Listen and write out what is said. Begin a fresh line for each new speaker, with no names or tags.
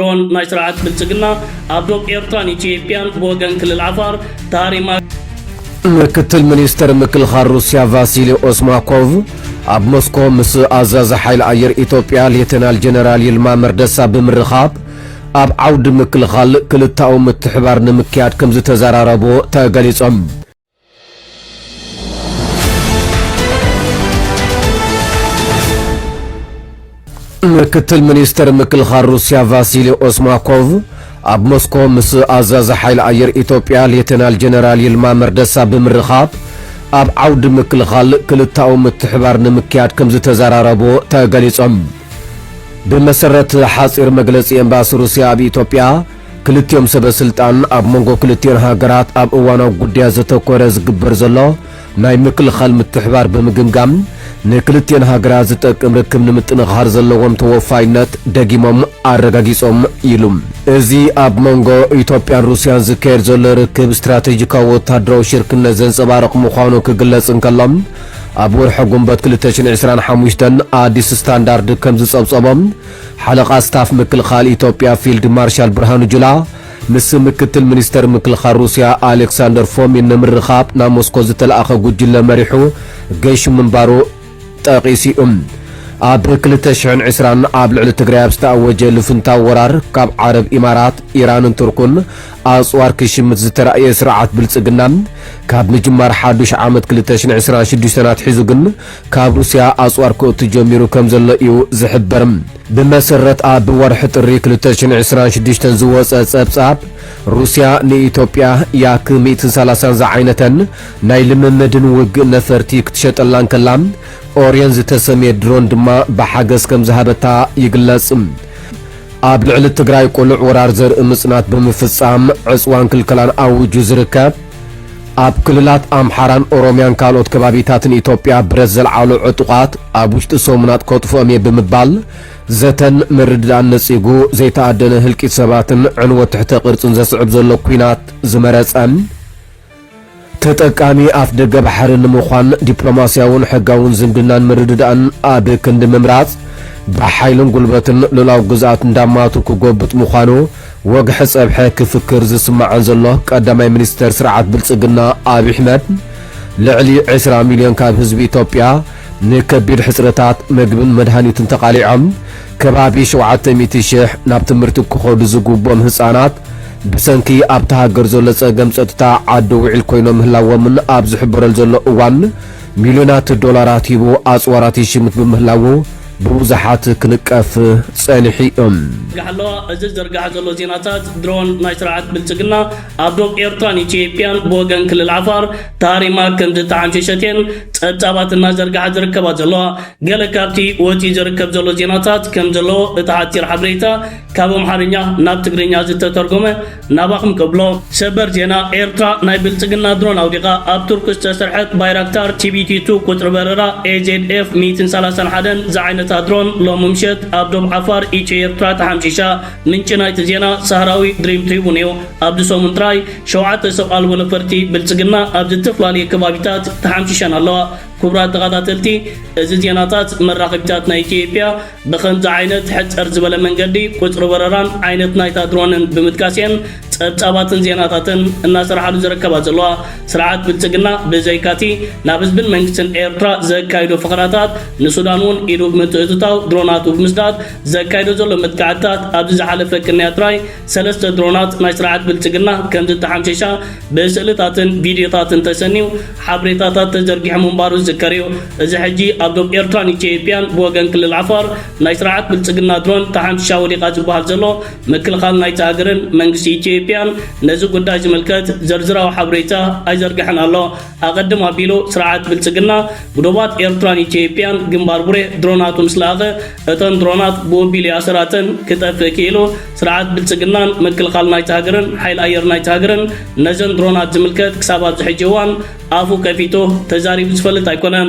ድሮን ናይ ስርዓት ብልጽግና ኣብ ዶብ ኤርትራን ኢትዮጵያን ብወገን ክልል ዓፋር ታሪማ ምክትል
ሚኒስተር ምክልኻል ሩስያ ቫሲሊ ኦስማኮቭ ኣብ ሞስኮ ምስ ኣዛዚ ሓይሊ ኣየር ኢትዮጵያ ሌተናል ጀነራል ይልማ መርደሳ ብምርኻብ ኣብ ዓውዲ ምክልኻል ክልተኣዊ ምትሕብባር ንምክያድ ከምዝተዘራረቡ ተገሊጾም። ምክትል ሚኒስተር ምክልኻል ሩስያ ቫሲሊ ኦስማኮቭ ኣብ ሞስኮ ምስ ኣዛዚ ሓይሊ ኣየር ኢትዮጵያ ሌተናል ጀነራል ይልማ መርደሳ ብምርኻብ ኣብ ዓውዲ ምክልኻል ክልታዊ ምትሕባር ንምክያድ ከም ዝተዘራረቡ ተገሊጾም። ብመሰረት ሓጺር መግለጺ ኤምባሲ ሩስያ ኣብ ኢትዮጵያ ክልቲኦም ሰበ ስልጣን ኣብ መንጎ ክልቲኤን ሃገራት ኣብ እዋናዊ ጉዳያት ዘተኮረ ዝግበር ዘሎ ናይ ምክልኻል ምትሕባር ብምግምጋም ንክልቲኤን ሃገራት ዝጠቅም ርክብ ንምጥንኻር ዘለዎም ተወፋይነት ደጊሞም ኣረጋጊፆም ኢሉ። እዚ ኣብ መንጎ ኢትዮጵያን ሩሲያን ዝካየድ ዘሎ ርክብ ስትራቴጂካዊ ወታደራዊ ሽርክነት ዘንፀባርቕ ምዃኑ ክግለፅ እንከሎ ኣብ ወርሒ ጉንበት ክልተ ሽሕን ዕስራን ሓሙሽተን ኣዲስ ስታንዳርድ ከምዝፀብፀቦ ሓለቓ ስታፍ ምክልኻል ኢትዮጵያ ፊልድ ማርሻል ብርሃኑ ጁላ ምስ ምክትል ሚኒስተር ምክልኻል ሩስያ ኣሌክሳንደር ፎሚን ንምርኻብ ናብ ሞስኮ ዝተልኣኸ ጉጅለ መሪሑ ገይሹ ምንባሩ ጠቒሱ'ዩ። ኣብ ክልተ ሽሕን ዕስራን ኣብ ልዕሊ ትግራይ ኣብ ዝተኣወጀ ልፍንታዊ ወራር ካብ ዓረብ ኢማራት፣ ኢራንን ቱርኩን ኣጽዋር ክሽምት ዝተራእየ ስርዓት ብልጽግና ካብ ምጅማር ሓዱሽ ዓመት ክልተ ሽሕን ዕስራን ሽዱሽተን ኣትሒዙ ግን ካብ ሩስያ ኣጽዋር ክእቱ ጀሚሩ ከም ዘሎ እዩ ዝሕበር። ብመሰረት ኣብ ወርሒ ጥሪ ክልተ ሽሕን ዕስራን ሽዱሽተን ዝወጸ ጸብጻብ፣ ሩስያ ንኢትዮጵያ ያክ ሚእትን ሰላሳን ዝዓይነተን ናይ ልምምድን ውግእ ነፈርቲ ክትሸጠላ እንከላ፣ ኦርየን ዝተሰምየ ድሮን ድማ ብሓገዝ ከም ዝሃበታ ይግለጽ። ኣብ ልዕሊ ትግራይ ቅሉዕ ወራር ዘርኢ ምጽናት ብምፍጻም ዕጽዋን ክልከላን ኣዊጁ ዝርከብ፣ ኣብ ክልላት ኣምሓራን ኦሮምያን ካልኦት ከባቢታትን ኢትዮጵያ ብረት ዘልዓሉ ዕጡቓት ኣብ ውሽጢ ሰሙናት ከጥፍኦም እየ ብምባል ዘተን ምርድዳእን ነጺጉ ዘይተኣደነ ህልቂት ሰባትን ዕንወት ትሕተ ቅርጽን ዘስዕብ ዘሎ ኲናት ዝመረጸን ተጠቃሚ ኣፍ ደገ ባሕሪ ንምዃን ዲፕሎማስያውን ሕጋውን ዝምድናን ምርድዳእን ኣብ ክንዲ ምምራጽ ብሓይልን ጉልበትን ሉላዊ ግዝኣት እንዳማቱ ክጎብጥ ምዃኑ ወግሐ ጸብሐ ክፍክር ዝስማዕን ዘሎ ቀዳማይ ሚኒስተር ስርዓት ብልጽግና ኣብይ ኣሕመድ፣ ልዕሊ ዕስራ ሚልዮን ካብ ህዝቢ ኢትዮጵያ ንከቢድ ሕጽረታት መግብን መድሃኒትን ተቓሊዖም ከባቢ ሸውዓተ ሚእቲ ሽሕ ናብ ትምህርቲ ክኸዱ ዝግብኦም ህጻናት ብሰንኪ ኣብታ ሃገር ዘሎ ጸገም ጸጥታ ዓዲ ውዒል ኮይኖም ምህላዎምን ኣብ ዝሕበረሉ ዘሎ እዋን ሚልዮናት ዶላራት ሂቡ ኣጽዋራት ይሽምት ብምህላዉ ብብዙሓት ክንቀፍ ጸኒሑ እዩ። ጋሓለዋ
እዚ ዝዝርጋሕ ዘሎ ዜናታት ድሮን ናይ ስርዓት ብልጽግና ኣብ ዶብ ኤርትራን ኢትዮጵያን ብወገን ክልል ዓፋር ተሃሪማ ከምዝተዓንሸሸት እየን ጸብጻባት እናዘርግሓ ዝርከባ ዘለዋ። ገለ ካብቲ ወጺኡ ዝርከብ ዘሎ ዜናታት ከምዘለዎ እቲ ሓጺር ሓበሬታ ካብ ኣምሓርኛ ናብ ትግርኛ ዝተተርጎመ ናባኹም ክብሎ ሰበር ዜና ኤርትራ ናይ ብልጽግና ድሮን ኣውዲቃ ኣብ ቱርኪ ዝተሰርሐት ባይራክታር ቲቢቲ ቱ ቁጽሪ በረራ AZF ሚእትን ሰላሳን ሓደን ዝዓይነታ ድሮን ሎሚ ምሸት ኣብ ዶብ ዓፋር ኢትዮ ኤርትራ ተሓምሺሻ ምንጪ ናይቲ ዜና ሳህራዊ ድሪም ትሪቡን እዩ ኣብዚ ሰሙን ጥራይ ሸውዓተ ሰብ ኣልቦ ነፈርቲ ብልጽግና ኣብ ዝተፍላለየ ከባቢታት ተሓምሺሸን ኣለዋ ክቡራት ተኻታተልቲ እዚ ዜናታት መራኸቢታት ናይ ኢትዮጵያ ብኸምዚ ዓይነት ሕጽር ዝበለ መንገዲ ቁጽሪ በረራን ዓይነት ናይታ ድሮንን ብምጥቃስ እየን ጸብጻባትን ዜናታትን እናሰርሓሉ ዝርከባ ዘለዋ። ስርዓት ብልጽግና ብዘይካቲ ናብ ህዝብን መንግስትን ኤርትራ ዘካይዶ ፈኸራታት ንሱዳን እውን ኢዱ ብምትእትታው ድሮናቱ ብምስዳድ ዘካይዶ ዘሎ መጥቃዕትታት ኣብዚ ዝሓለፈ ቅንያት ጥራይ ሰለስተ ድሮናት ናይ ስርዓት ብልጽግና ከም ዝተሓምሸሻ ብስእልታትን ቪድዮታትን ተሰንዩ ሓብሬታታት ተዘርጊሑ ምንባሩ ዝዝከር እዩ። እዚ ሕጂ ኣብ ዶብ ኤርትራን ኢትዮጵያን ብወገን ክልል ዓፋር ናይ ስርዓት ብልጽግና ድሮን ተሓምሺሻ ወዲቓ ዝበሃል ዘሎ ምክልኻል ናይታ ሃገርን መንግስቲ ኢትዮጵያን ነዚ ጉዳይ ዝምልከት ዝርዝራዊ ሓብሬታ ኣይዘርገሐን ኣሎ። ኣቐድም ኣቢሉ ስርዓት ብልጽግና ብዶባት ኤርትራን ኢትዮጵያን ግንባር ቡሬ ድሮናቱ ምስ ለኣኸ፣ እተን ድሮናት ብወቢሉ ይኣሰራተን ክጠፍእ ክኢሉ። ስርዓት ብልጽግናን ምክልኻል ናይታ ሃገርን ሓይሊ ኣየር ናይታ ሃገርን ነዘን ድሮናት ዝምልከት ክሳብ ኣብዚ ሕጂ እዋን ኣፉ ከፊቱ ተዛሪቡ ዝፈልጥ ኣይኮነን።